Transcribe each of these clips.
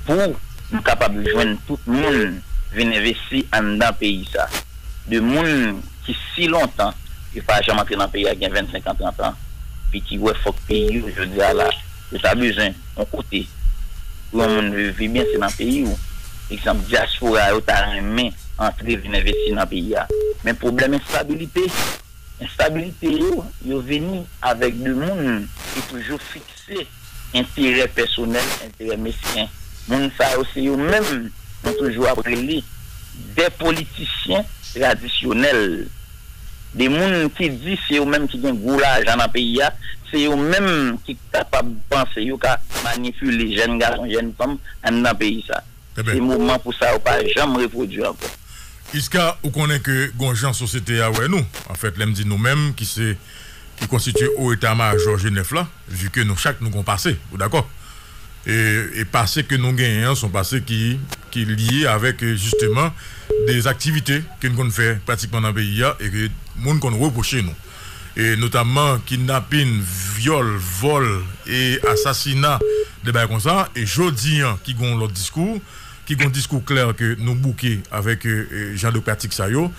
Pou m kapab jwenn tout moun vin envesti anndan peyi sa. De moun ki si lontan yo pa janm antre nan peyi a gen 25 an 30 an pi ki wè fòk peyi yo jodi a la yo ta bezwen yon kote pou yon moun viv pi byen se nan peyi ou. Egzanp dyaspora yo ta renmen antre vin envesti nan peyi a. Men pwoblèm enstabilite enstabilite yo yo vini avèk de moun ki toujou fiks. Ple, enterè pèsonèl, enterè mesken. Moun sa yo se yo menm nou toujou ap rele de politisyen tradisyonèl. De moun ki di se yo menm ki gen gwo lajan nan peyi a, se yo menm ki kapab panse yo ka manipile jèn gason, jèn fanm anndan peyi sa. Se moman pou sa yo pa janm repwodui ankò. Isca ou konnen ke gon jan sosyete a wè nou, anfèt lè m di nou menm ki se ki konstitye o eta majò Jenèf la, vi ke nou chak nou gon pase, ou dakò? E pase ke nou genyen an son pase ki ki lye avèk jisteman de aktivite ke n konn fè pratikman nan peyi a e ke moun konn repwoche nou. notamman kidnapin, vyòl, vòl e asasina, de bagay konsa, e jodi an ki gen yon lòt diskou, ki gen yon diskou klè ke nou bouke avèk jan de pratik sa yo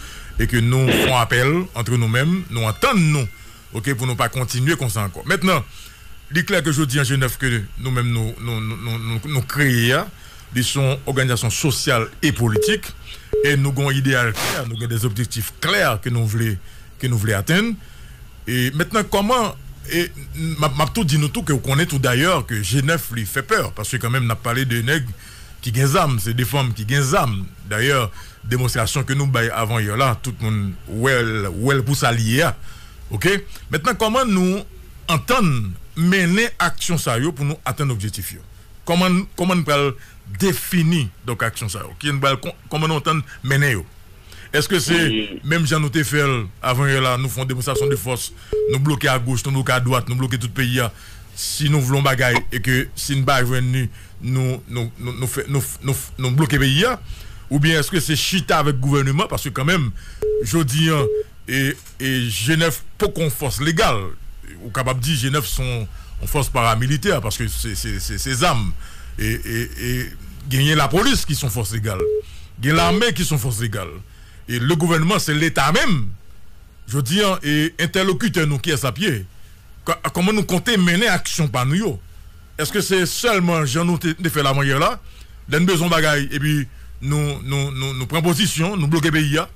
e ke nou fon apèl antre nou menm, nou antann nou ok pou nou pa kontinye konsa ankò. Mentnan, li klè ke jodi an Jenèf ke nou menm nou kreye a, Li se yon òganizasyon sosyal e politik e nou gen yon ideyal klè, nou gen de objektif klè ke nou vle ke nou vle atenn. E mentnan kòman e map map tou di nou tou ke ou konnen tou dayè ke je nèf li fè pè paske kanmenm nap pale de nèg ki gen zam se de fanm ki gen zam dayè demonstrasyon ke nou bay avan yè la tout moun wèl wèl pou sa li ye a oke. Mentnan kòman nou antann mennen aksyon sa yo pou nou atenn objektif yo. Kòman kòman n pral defini donk aksyon sa yo? Kien pral kòman nou antann mennen yo? Eske se menm jan nou te fè l avan yè la nou fè yon demonstrasyon de fòs nou bloke a goch nou bloke a dwat nou bloke tout peyi a si nou vle yon bagay e ke si n pa jwenn li nou nou nou fè nou nou nou bloke peyi a oubyen eske se chita avèk gouvèneman paske kanmenm jodi an e Jenèf poko yon fòs legal. Ou kapab di Jenèf se yon fòs paramilitè paske se zam. E genyen lapolis ki se yon fòs legal. Gen lame ki se yon fòs legal. E le gouvènman se leta menm. Jodi an entèlokitè nou kiyès l ap ye? Kòman nou konte mennen aksyon pa nou yo? Eske se selman jan nou te fe lamanyer la, le nou bezwen yon bagay epi nou pran pozisyon, nou bloke peyi a,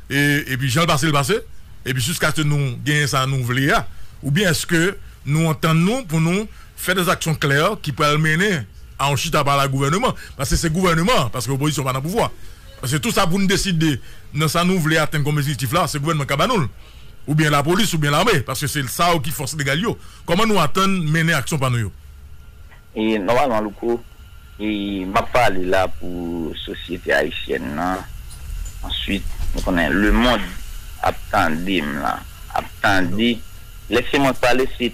epi jan l pase l pase, epi jiskaske nou genyen sa nou vle a? Oubyen eske nou antann nou pou nou fe de zaksyon klè ki pral mennen a yon chita pale ak gouveneman? Paske se gouveneman an, paske opozisyon pa nan pouvwa. Paske tou sa pou nou deside nan sa nou vle atenn kom ejektif la, se gouveneman k ka ba nou l. Oubyen lapolis oubyen lame, paske se sa yo ki fos legal yo. Kòman nou atann mennen aksyon pa nou yo? E nòmalman Louko, e map pale la pou sosyete ayisyèn nan, answit m konnen lemond ap tande m lan, ap tande, lè se mwen k pale se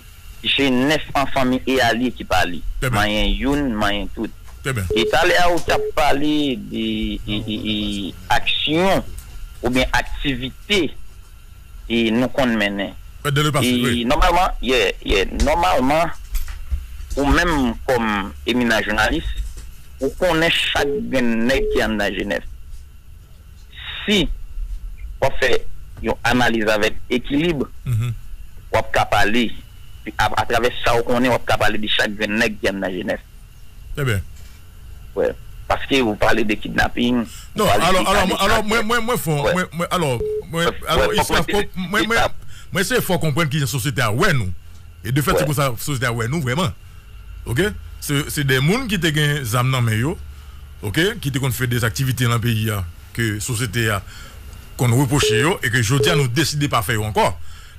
jenès an fanmi e alye ki pale, manyen youn manyen tout. E talè a ou tap pale de aksyon oubyen aktivite. e nou konn mennen. Fèt de le pase, wi. E nòmalman, yeah, yeah, nòmalman, ou menm kòm eminan jounalis, ou konnen chak grenn nèg ki anndan Jenèf. Si w ap fè yon analiz avèk ekilib, w ap ka pale, atravè sa ou konnen, w ap ka pale de chak grenn nèg ki anndan Jenèf. Ebyen. Wè. Paske ou pale de kidnapping. Non, alò, alò, alò, mwen, mwen, mwen fon, mwen, mwen, alò, mwen, alò, mwen, mwen, mwen se fò konprann kijan sosyete a wè nou. E de fèt se konsa sosyete a wè nou vrèman. Ok? Se, se de moun ki te gen zam nan men yo, ok, ki te konn fè de aktivite nan peyi a ke sosyete a konn repwoche yo e ke jodi a nou deside pa fè yo ankò.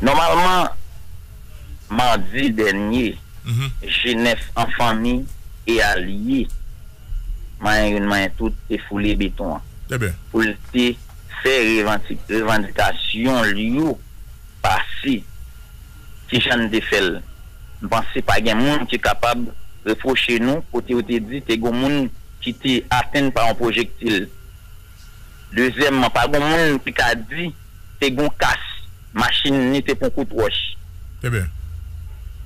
Nòmalman, madi dènye, jenès an fanmi e alye, manyen youn manyen tout, te foule beton an pou l te fè revandikasyon l yo pase. Ki jan n te fè l? M panse pa gen moun ki kapab repwoche nou kote yo te di te gen yon moun ki te atenn pa yon pwojektil. Dezyèmman, pa gon moun ki ka di te gon kas machin ni te pon kout wòch. Eben.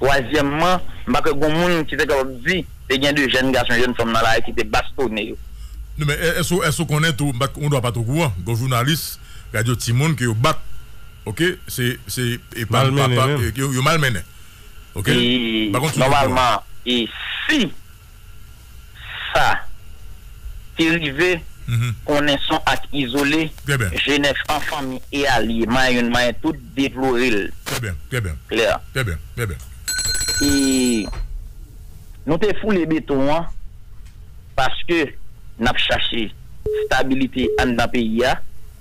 Twazyèmman, m pa kwè gon moun ki te kapab di te gen de jèn gason, jèn fanm nan lari ki te bastone yo. Non men, èske ou konnen tou, ou dwa pa t okouran, gon jounalis radyo timoun ke yo bat, ok, se, se, e pa, pa, pa, yo malmennen. Ok? Nòmalman, e si sa ki rive konnen son ak izole jenès an fanmi e alye mayoun mayen tout deplore l klè e nou te foule beton an paske n ap chache stabilite anndan peyi a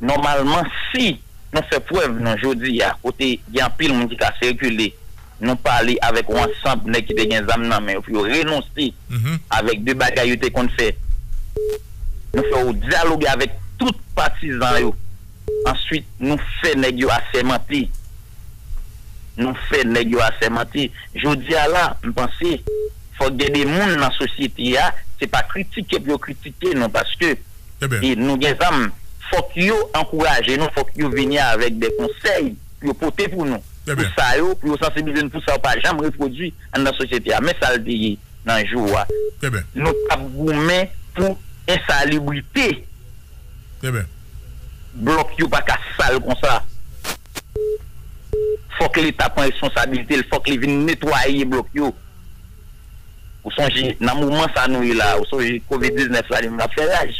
nòmalman si nou fè prèv nou jodi a kote gen anpil moun ki ka sikile. Nou pale avèk yon ansanb nèg ki te gen zam nan men yo pou yo renonse avèk de bagay yo te konn fè. Nou fè yo dyaloge avèk tout patizan yo. Answit nou fè nèg yo asèmante. Nou fè nèg yo asèmante. Jodi a la, m panse, fòk gen de moun nan sosyete a, se pa kritike pou yo kritike nou paske nou gen zam, fòk yo ankouraje nou, fòk yo vini avèk de konsèy pou yo pote pou nou. pou sa yo, pou yo sansibilize nou pou sa yo pa janm repwodui anndan sosyete a. Men sa l di nan jou a, Nou t ap goumen pou ensalibrite. Blòk yo pa ka sal konsa. Fòk Leta pran responsabilite l, fòk li vin netwaye blòk yo. Ou sonje nan moman sa nou ye la a, ou sonje covid 19 la li menm l ap fè raj.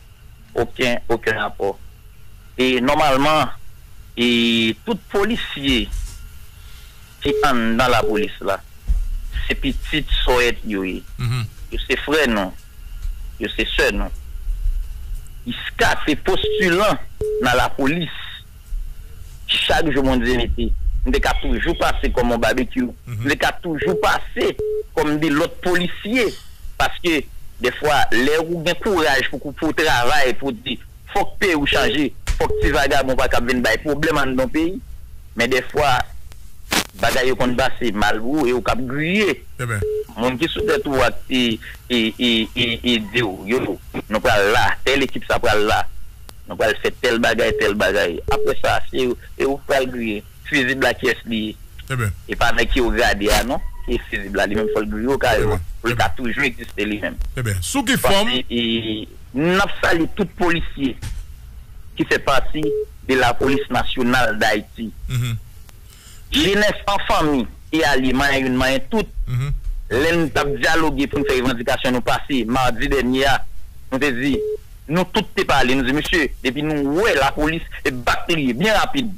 Oken oken rapò. E nòmalman e tout polisye ki anndan lapolis la se pitit sòèt yo ye. Yo se frè nou. Yo se sè nou. Iska se postilan nan lapolis. Chak jou Bondye mete. M te ka toujou pase kòm on babekyou. M te ka toujou pase kòm de lòt polisye. Paske, dèfwa, lè ou gen kouraj pou pou w travay, pou w di, fòk peyi w chanje, fòk ti vagabon pa kab vin bay pwoblèm anndan peyi. Men dèfwa, bagay yo konn pase mal pou ou e ou kab griye. Moun ki sou tèt ou a ki di w, yo, nou pral la, tèl ekip sa pral la. Nou pral fè tèl bagay, tèl bagay. Apre sa, se ou ki pral griye. Fizib la kiyès li ye? E pa nèg ki ou gade a non ki ye fizib la. Li menm fò l griye o kay la pou l ka toujou egziste li menm. Paske n ap salye tout polisye ki fè pati de lapolis nasyonal Dayiti. Jenès an fanmi e alye manyen youn manyen tout. Lè n t ap dyaloge pou n fè revandikasyon nou pase madi dènye a, nou te di, nou tout te pale, nou di mesye, depi nou wè lapolis, se bak li ye, byen rapid.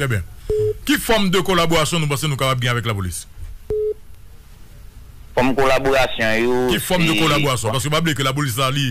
Trè byen. Ki fòm de kolaborasyon nou panse nou kapab gen avèk lapolis? Fòm kolaborasyon yo se. Ki fòm de kolaborasyon? Paske pa bliye ke lapolis la li.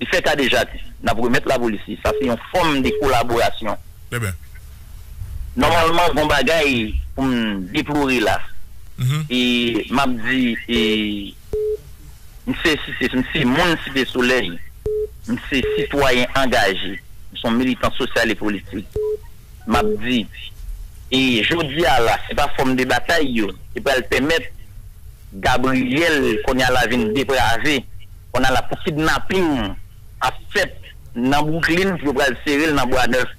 Li fè kadejadi. N ap remèt lapolis li. Sa se yon fòm de kolaborasyon. Nòmalman gon bagay pou m deplore la. E m ap di e m se site m se moun Site Solèy. M se sitwayen angaje. M se yon militan sosyal e politik. M ap di e jodi a la se pa fòm de batay yo ki pral pèmèt. Gabriel konya la vin deprave konya la pou kidnapping ap fèt nan Brooklyn pou yo pral serel nan bwa nèf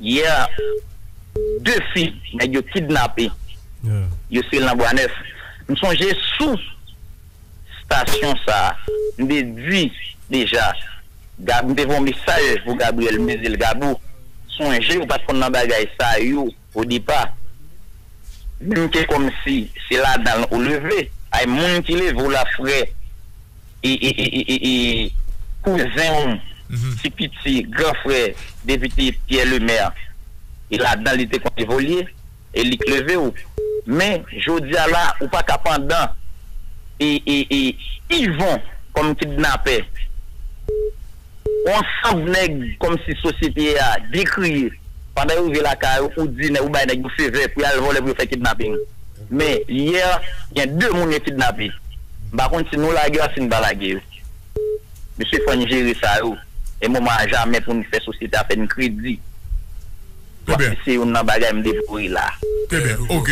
yè 2 fi nèg yo kidnape yo serel nan bwa nèf m sonje sou stasyon sa m te di deja m te voye yon mesaj pou Gabriel m te dil Gabo sonje ou pat konn nan bagay sa yo. Au départ. Menm ke komsi se ladanl ou leve. Ay moun ki levew la frè kouzen ou ti piti gran frè depite Pierre Lemaire e ladan li te konn evolye e li k levew men jodia la ou paka pandan e Yvon kòm kidnapè. On sanb nèg kòmsi sosyete a dekriye pandan yo rive lakay ou, ou di nèg ou bay nèg yo fevè pou y'al vòlè pou yo fè kidnaping. Men, yè, gen 2 moun yo kidnape. M pa konn si nou lage yo ak si n pa lage yo. Mesye fò n jere sa yo. E moman a jamè pou n fè sosyete a fè n kredi. Wap fikse youn nan bagay m deplore la. Trè byen ok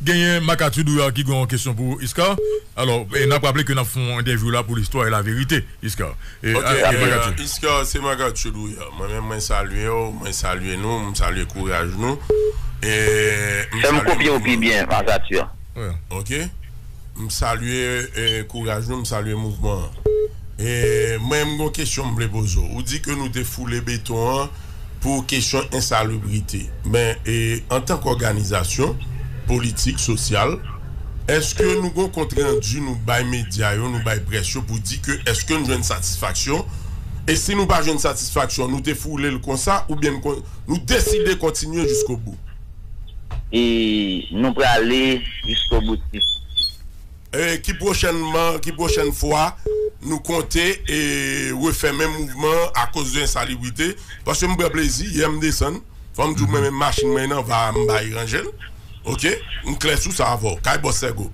genyen Makatu Douyar ki gen yon kesyon pou ou Iscar alò nap raple ke nap fè yon entèvyou la pou listwa e laverite Iscar e Makatu. Ok Iscar se Makatu Douyar mwen menm mwen salye w mwen salye nou m salye kouraj nou e m salye mouvman nou. Fè m kopye w pi byen Makatu. Ok m salye kouraj nou m salye mouvman an e mwen m gen yon kesyon m vle poze w ou di ke nou te foule beton an. pou kesyon ensalubrite. Men, antan k òganizasyon, politik, sosyal, èske nou gon kontrandi nou bay medya yo, nou bay près yo pou di ke èske n jwenn satisfaksyon? E si nou pa jwenn satisfaksyon, nou te foule l konsa oubyen n kon, nou deside kontinye jiskobou? E nou prale jiskoboutis? Ki pwochènman, ki pwochèn fwa nou konte refè menm mouvman an akoz de ensalibrite? Paske m pran plezi, yè m desann, fò m di w mwen menm machin mwen nan va a m bay ranje l ok, m klè sou sa avè w, kay Bòs Sègo.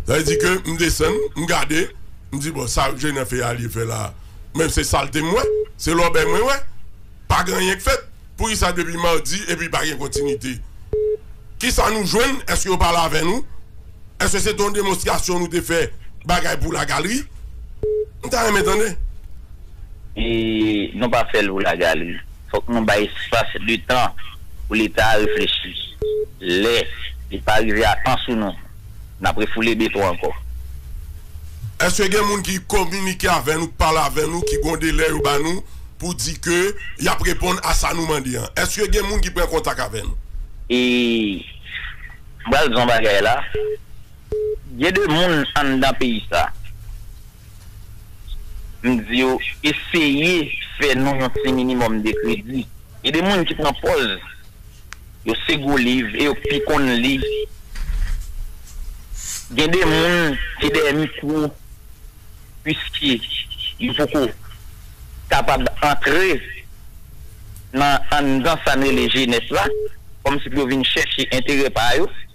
Sa vle di ke m desann, m gade, m di bon sa Jenè Feyalie fè la a menm se salte m wè, se lòbèy mwen wè, pa gen anyen k fèt. Poukisa depi mardi epi pa gen kontinite? Kisa nou jwenn? Eske yo pale avè nou? Eske se te yon demonstrasyon nou te fè bagay pou la galri? M ta renmen tande. E nou pa fè l pou la galri. Fòk nou bay espas, letan pou leta a reflechi. Lè li pa rive a tan sou nou. N ap refoule beton ankò. Eske gen moun ki kominike avè nou, k pale avè nou, ki gon delè yo ba nou pou di ke y ap reponn a sa nou mande an? Eske gen moun ki pran kontak avè nou? E m pral di w yon bagay la, gen de moun anndan peyi sa, m di yo eseye fè nou yon ti minimòm de kredi. Gen de moun ki pran pòz. Yo se gwo liv e yo k pi konn li. Gen de moun ki dèyè mikwo puiske yo poko kapab antre nan anndan sa n rele jenès la, kòmsi pou yo vin chèche enterè pa yo.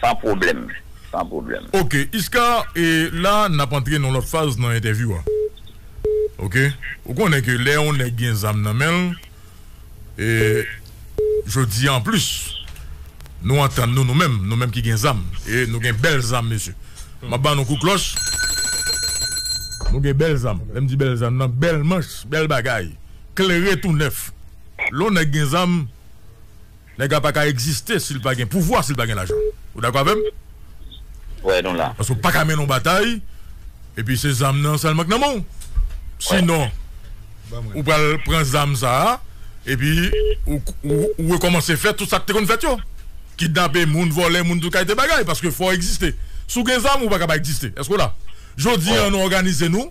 San pwoblèm, san pwoblèm. Ok Iscar e la nap antre nan lòt faz nan entèvyou a ok ou konnen ke lè yon nèg gen zam nan menl e jodi an plis nou antann nou nou menm nou menm ki gen zam e nou gen bèl zam mesye map ba nou kout klòch nou gen bèl zam lèm di bèl zam nan bèl manch bèl bagay klere tou nèf lè yon nèg gen zam. Nèg la pa ka egziste si l pa gen pouvwa, si l pa gen lajan. Ou dakò avè m? Wè nou la. Paske ou pa ka mennen yon batay epi se zam nan sèlman k nan men w. Sinon, ou pral pran zam sa a epi ou rekòmanse fè tout sa k te konn fèt yo. Kidnape moun, vòlè moun, tout kalite bagay. Paske fò w egziste. Si w gen zam, ou pa ka pa egziste. Èske w la? Jodi an nou òganize nou,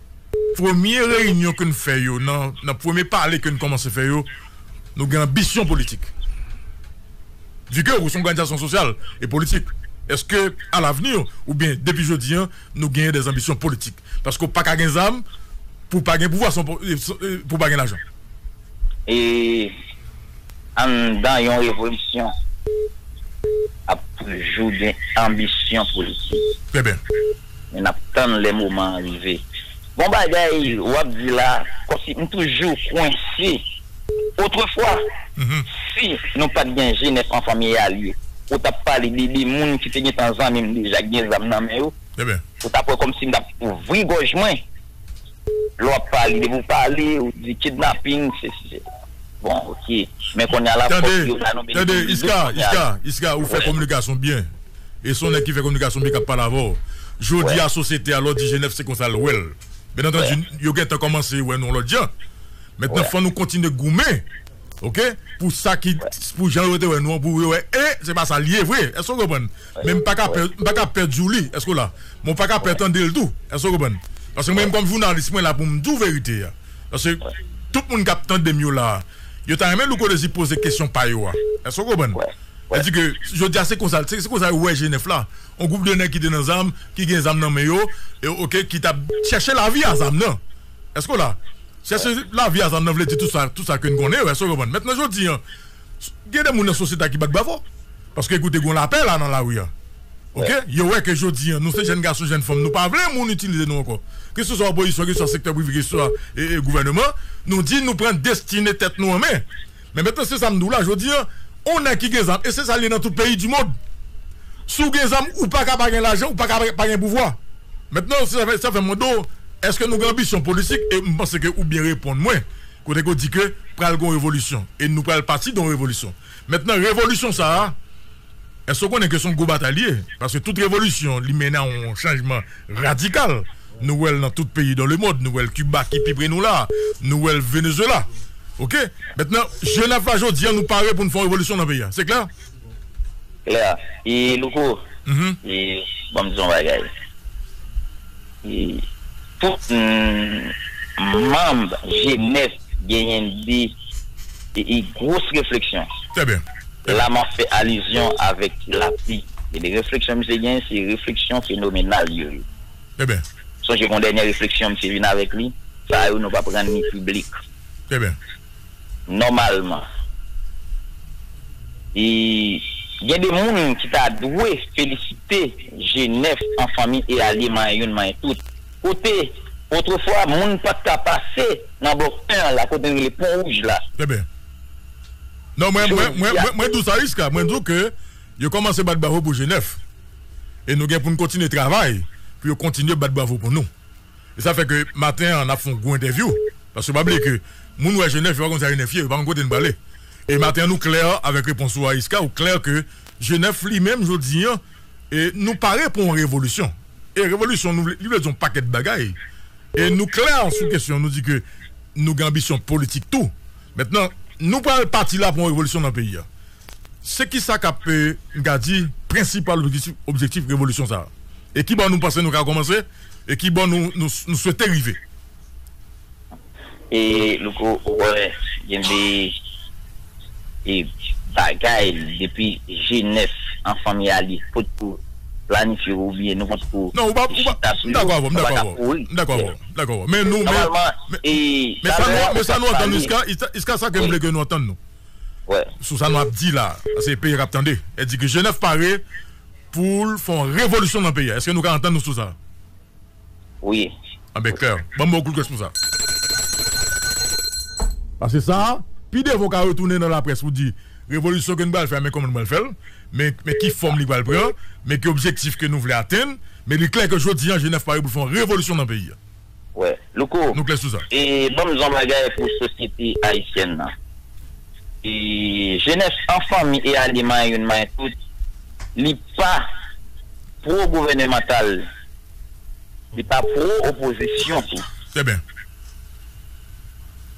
Premye reyinyon ke n fè yo, nan premye pale ke n kòmanse fè yo, nou gen anbisyon politik. Vu ke ou se yon òganizasyon sosyal e politik, èske a lavni ou byen depi jodi an nou genyen dè anbisyon politik? Paske ou pa ka gen zam pou w pa gen pouvwa, pou w pa gen lajan. E anndan yon revolisyon ap toujou gen anbisyon politik. Trè byen. Men nap tann lè moman an rive. Bon bagay wap di la kòmsi m toujou kwense otrefwa si nou pat gen jenès an fanmi Yalie ou tap pale de 2 moun ki te gentan zanmi m deja ki gen zam nan men yo ou tap wè kòmsi m tap ouvri gòj mwen lè wap pale depi w pale ou di kidnaping sesi sela. Bon ok men konnya la fok yo ba nou benefis du doute konnya la. Tande Iska, Iska, Iska ou fè kominikasyon byen e son nèg ki fè kominikasyon byen kap pale avè w. Jodi a sosyete a lè w di Jenèf se konsa l wè l. Byen antandi yo gentan kòmanse wè nou yon lòt jan. Mentnan fò nou kontinye goumen ok pou sa ki pou jan yo te wè nou an pou yo wè e se pa sa l ye vre. Èske w konprann? Men m pa ka pè, m pa ka pè di w li, èske w la? Men w pa ka pè tande l tou, èske w konprann? Paske mwen menm kòm jounalis mwen la pou m di w verite a. Paske tout moun k ap tande m yo la a, yo ta renmen Louko Dezi poze kesyon pa yo a, èske w konprann? Sa di ke jodi a se konsa, se konsa yo wè jenèf la, yon gwoup de nèg ki te nan zam, ki gen zam nan men yo, ok, ki t ap chèche lavi a zam nan, èske w la? Chèche lavi a zam nan vle di tout sa, tout sa ke n konnen yo, èske w konprann? Mentnan jodi a, Gen de moun nan sosyete a ki bat bravo. Paske ekoute gon lapè la nan lari an. Ok, yo wè ke jodi an nou se jèn gason, jèn fanm nou pa vle moun itilize nou ankò. Ke se swa opozisyon, ke se swa sektè prive, ke se swa gouvèneman, nou di nou pran destine tèt nou an men. Men mentnan se sa m di w la, jodi an, on nèg ki gen zam, e se sa l ye nan tout peyi di mond. Si w gen zam, ou pa ka pa gen lajan, ou pa ka pa gen pouvwa. Mentnan, sa fè m mande w, eske nou gen anbisyon politik? E m panse ke ou byen reponn mwen. Kote ke w di ke pral gen yon revolisyon e nou pral pati dan yon revolisyon. Mentnan revolisyon sa a, èske w konnen ke se yon gwo batay li ye? Paske tout revolisyon li mennen a yon chanjman radikal. Nou wè l nan tout peyi dan lemond. Nou wè l Kiba ki pi pre nou la a. Nou wè l Venezuela. Ok. Mentnan, jenèf la jodi a nou pare pou nou fè yon revolisyon nan peyi a. Se klè? Claire, e Louko, e ban m di w yon bagay, e tout manb Jenès genyen de e gwos refleksyon. Trè byen. La m ap fè alizyon avèk lapli. E de refleksyon misye genyen se refleksyon fenomenal yo ye. Trè byen. Sonje gon dènye refleksyon misye vin avèk li, sa yo nou p ap rann ni piblik. Trè byen. Nòmalman, gen de moun ki ta dwe felisite jenès an fanmi e alye manyen youn manyen tout. Kote, otrefwa, moun pa t ka pase nan bò pen an la, kote n rele Pon Wouj la. Enben, non, mwen, mwen, mwen, mwen, mwen di w sa jiska, mwen di w ke yo kòmanse bat bravo pou jenès e nou gen pou n kontinye travay pou yo kontinye bat bravo pou nou. E sa fè ke maten an n ap fè yon gwo entèvyou. Paske pa bliye ke moun wè Jenèf, yo pa konn sa Jenèf ye, yo pa konn kote n prale. E maten an nou klè avèk repons ou a Yisca, ou klè ke Jenèf li menm jodi an, nou pare pou yon revolisyon. E revolisyon nou vle, li vle di yon pakèt bagay. E nou klè sou kesyon an, nou di ke nou gen anbisyon politik tou. Mentnan, nou pral pati la pou yon revolisyon nan peyi a. Se ki sa k ap, m ka di, prensipal objektif revolisyon sa a? E ki bò nou panse nou ka kòmanse? E ki bò nou swete rive? E Louko, ou wè, gen de bagay depi jenès an fanmi a li pot ko planifye oubyen nou pot ko chita sou yo, nou pa ka kouri. M dakò avè w. M dakò avè w. Men nou, men sa nou antann jiska, jiska sa ke m vle ke nou antann nou. wè. Sou sa nou ap di la a se peye kap tande e di ke jenèf pare poul fon revolisyon nan peye a eske nou ka antann nou sou sa. Wi. A ben klè banm bon kout gwès pou sa. Pase sa a pi devan ou ka retounen nan laprès pou di revolisyon ke nou pral fè a men kòman nou pral fèl men men ki fòm li pral pran men ki objektif ke nou vle atenn men li klè ke jodi a jenèf pare poul fon revolisyon nan peye a. Wè. Louko, Nou klè sou sa. e banm di w yon bagay pou sosyete ayisyèn nan. E jenès an fanmi e ale manyen youn manyen tout, li pa pwo gouvènemantal, li pa pwo opozisyon tou. Trè byen.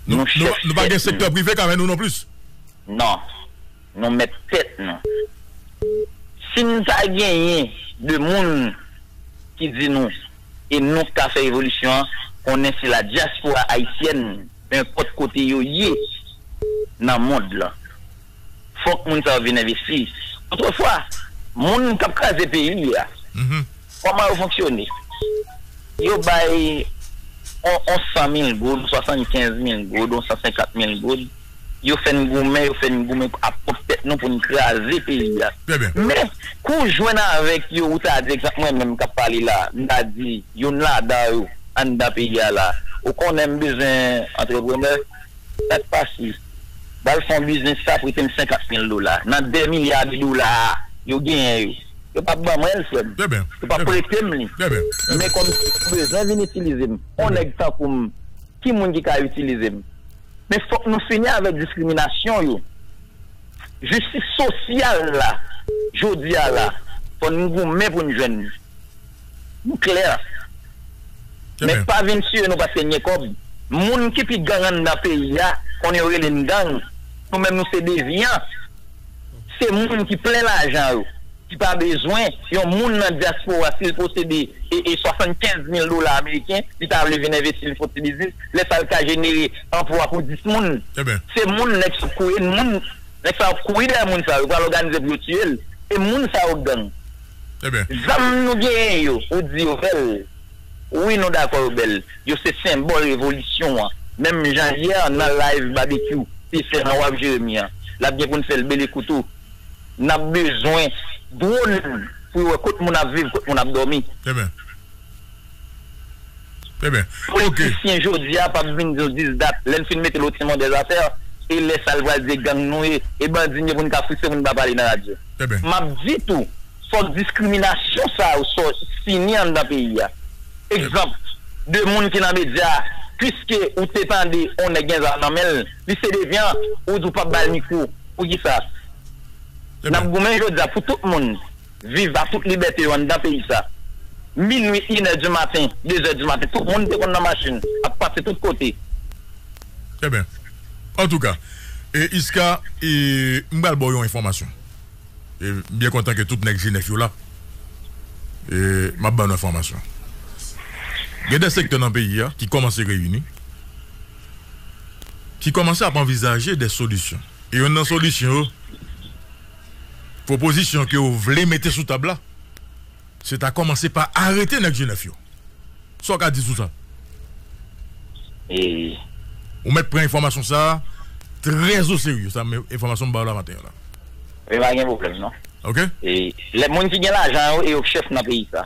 Nou Nou chèf nou pa gen tèt sektè nou. prive k avè nou non plis. Non. Nou mèt tèt nou. Si n ta genyen 2 moun ki di nou. e nou ka fè evolisyon an konnen si la dyaspora ayisyèn enpòt kote yo ye nan mond lan fòk moun sa yo vin envesti otrefwa moun kap kraze peyi a kòman yo fonksyone yo bay on 100 mil goud 75 mil goud on 150 mil goud. Yo fè n goumen, yo fè n goumen ap pwòp tèt nou pou n kraze peyi a. Men, kou w jwenn avèk yo, ou ta di, egzanp mwen menm k ap pale la, m ta di youn ladan yo anndan peyi a la, ou konnen m bezwen antreprenè, sa k pase? Ba l fon biznis sa, prete m senkant mil dola. Nan de milya de dola yo genyen yo, yo p ap ban mwen l, frè m. Yo p ap prete m li. Men kòmsi yo bezwen vin itilize m, on nèg tankou m, ki moun ki ka itilize m? Men fòk nou fini avèk diskriminasyon yo. Jistis sosyal la jodi a la fò n goumen pou n jwenn li. Nou klè. Men pa vin tiye nou paske n gen kòb. Moun ki pi gang anndan peyi a konnen yo rele n gang. Nou menm nou se devyan. Se moun ki plen lajan yo. ki pa bezwen yon moun nan dyaspora si l posede 75 mil dola ameriken li ta vle vin envesti li fon ti biznis lè sa l ka jenere anplwa pou 10 moun se moun nèg sa nèg sa yo ap kouri dèyè moun sa yo pral òganize pou yo tiye l e moun sa yo gang zam nou genyen yo ou di yo bèl wi nou dakò yo bèl yo se senbòl revolisyon an menm jan yè nan live babekyou te fè nan waf jeremi an l ap gen pou n fè l bele kou tou. Nap bezwen drone pou yo wè kot moun ap viv kot moun ap domi. Amen amen ok. Politisyen jodia pap vin di nou 10 dat lèn fin mete lo timon dè zafè e lè sal pral di e gang nou ye e bandi nou ye poun ka frise moun pa pale nan radyo map di tou fòk diskriminasyon sa yo sò fini anndan peyi a egzanp 2 moun ki nan medya piske ou te tande on nèg gen zam nan menl li se devyan ou di ou pap bal mikwo. Poukisa n ap goumen jodi a pou tout moun viv ak tout libète yo anndan peyi sa? Minui, inè di maten, dezè di maten, tout moun te konn nan machin ap pase tout kote. Enben, antouka, Iska, m pral ba w yon enfòmasyon. M byen kontan ke tout nèg jenès yo la. M ap ba nou enfòmasyon. Gen de sektè nan peyi a ki kòmanse reyini. ki kòmanse ap anvizaje de solisyon. E yonn nan solisyon yo, pwopozisyon ke yo vle mete sou tab la, se ta kòmanse pa arete nèg Jenèf yo. Sa w ka di sou sa? Ou mèt pran enfòmasyon sa a trè o serye, sa m, enfòmasyon m ba w la maten an la. Men pa gen pwoblèm non. Ok. Lè moun ki gen lajan yo e yo k chèf nan peyi sa.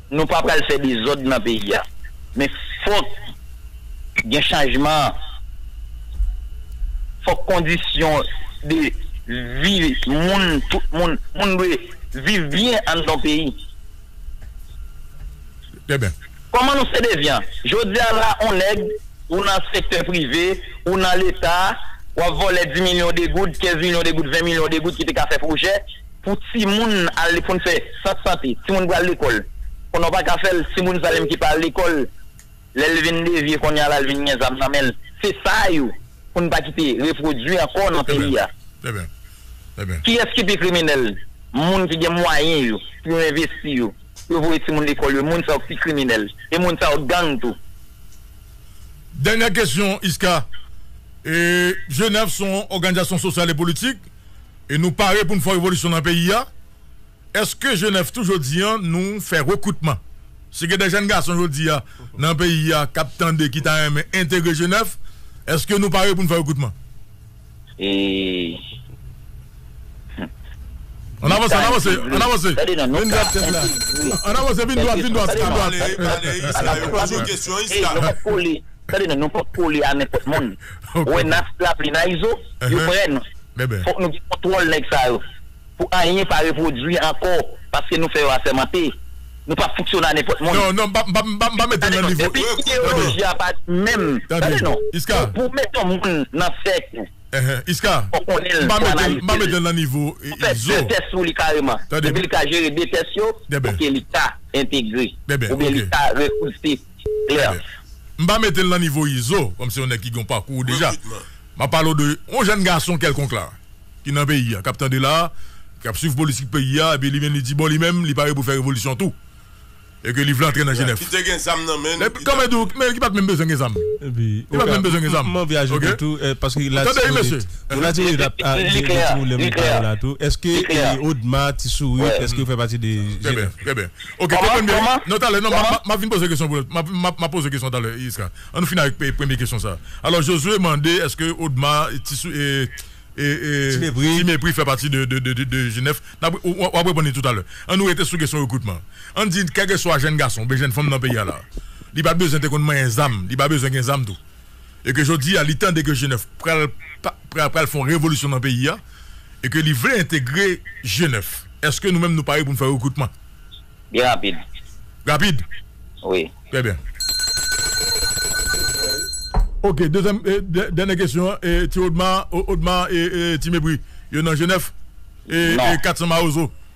Nou pa pral fè dezòd nan peyi a. Men fòk gen chanjman. Fòk kondisyon de vi moun, tout moun, moun dwe viv byen anndan yon peyi. Kòman nou se devyan? Jodi a la on nèg, ou nan sektè prive, ou nan leta, w ap vòlè 10 milyon de goud, 15 milyon de goud, 20 milyon de goud ki te ka fè pwojè. Pou timoun al pou n fè sant sante, timoun pral lekòl konnen w pa ka fè l, timoun sa menm ki pa al lekòl lè l vin devye konnen a la l vin gen zam nan men l, se sa yo pou n pa kite repwodui ankò nan peyi a. Kiyès ki pi kriminèl? Moun ki gen mwayen yo pou yo envesti yo, pou yo voye timoun lekòl yo, moun sa yo ki pi kriminèl e moun sa yo gang tou. Dènyè kesyon Isca, Jenèv se yon òganizasyon sosyal e politik. E nou pare pou n fè revolisyon nan peyi a? Eske jenèf tou jodi an nou fè rekritman? Si gen de jèn gason jodi a nan peyi a k ap tande ki ta renmen entegre jenèf, eske nou pare pou n fè rekritman? E An avanse, an avanse, an avanse. Tande non, nou ka entegre. An avanse, vin dwat, vin dwat, vin dwat. Tande non, nou pa kole a nenpòt moun. Wè nas lapli nan izo yo prè nou fòk nou gen kontwòl nèg sa yo pou anyen pa repwodwi ankò paske nou fè yo asèmante nou pap fonksyone a nenpòt moun tande non depi ideyoloji a pa di menm tande non pou w met yon moun nan sèk ou fòk konnen l fòk analize l fòk fè 2 tès sou li kareman depi li ka jere 2 tès yo ok li ka entegre oubyen li ka repouse. Claire. M pa mete l nan nivo Izo, kòm se yon nèg ki gen yon pakou deja. M ap pale w de yon jèn gason kèlkonk la, ki nan peyi a, k ap tande la, k ap suiv politik peyi a, epi li vin li di bon li menm li pare pou l fè revolisyon tou, e ke li vle antre nan Jenèf. Ki te gen zam nan men l. Ki tap di. Men ki pa t menm bezwen gen zam. Ki pa t menm bezwen gen zam. M anvi ajoute tou, paske la timounit. La timounit ap gen timoun lè m li pale la tou. Eske Odma, Ti Sourit, eske yo fè pati de Jenèf? Trè byen. Ok te konn byen wi. Non talè non map vin poze kesyon pou map poze kesyon talè Yska annou fini avèk premye kesyon sa alò Josué mande eske Odma ti mepri fè pati de G9 wap reponn li toutalè annou rete sou kesyon rekritman ann di kèlkeswa jèn gason oubyen jèn fanm nan peyi a la li pat bezwen te konn manyen zam li pa bezwen gen zam tou. e ke jodi a li tande ke G9 pral pral fè yon revolisyon nan peyi a e ke li vle entegre G9, èske nou menm nou pare pou nou fè rekritman? Byen rapid. Rapid? Wi. Trè byen. Ok, dezyèm e dènye kesyon an, e ti Odma, Odma e ti Mepri yo nan G9? Non. E 400 mawozo?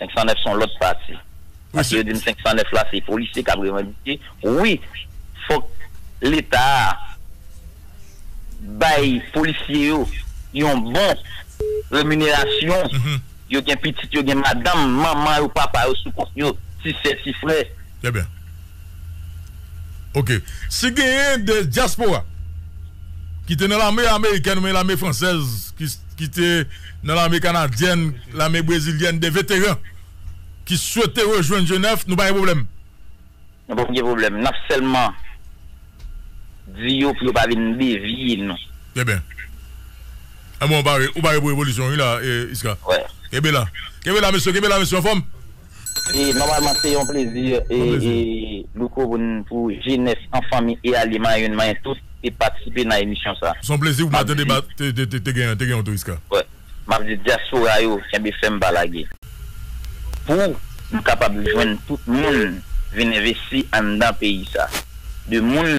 509 son lòt pati. Paske yo dim 509 la se polisye kap revandike. Wi fòk leta a bay polisye yo yon bon reminerasyon. Yo gen pitit yo gen madanm, manman yo, papa yo sou kont yo, ti sè, ti frè. Trè byen. Ok. Si genyen de dyaspora ki te nan lame amerikèn oubyen lame fransèz ki te. Nan lame kanadyèn, lame brezilyèn, de veteran ki swete rejwenn Jenèf, nou pa gen pwoblèm. Nou pap gen pwoblèm. Nap sèlman di yo pou yo pa vin devye nou. Trè byen. Anben ou pare, ou pare pou revolisyon wi la, Isca. Wè. Kenbe la. Kenbe la mesye, kenbe la mesye, anfòm? E nòmalman se yon plezi e Louko pou n pou jenès an fanmi e alye manyen manyen tout te patisipe nan emisyon sa. Son plezi pou map tande te gen te gen yon twist ka. Wè map di dyaspora yo kenbe fèm pa lage pou nou kapab jwenn tout moun vin envesti anndan peyi sa de moun.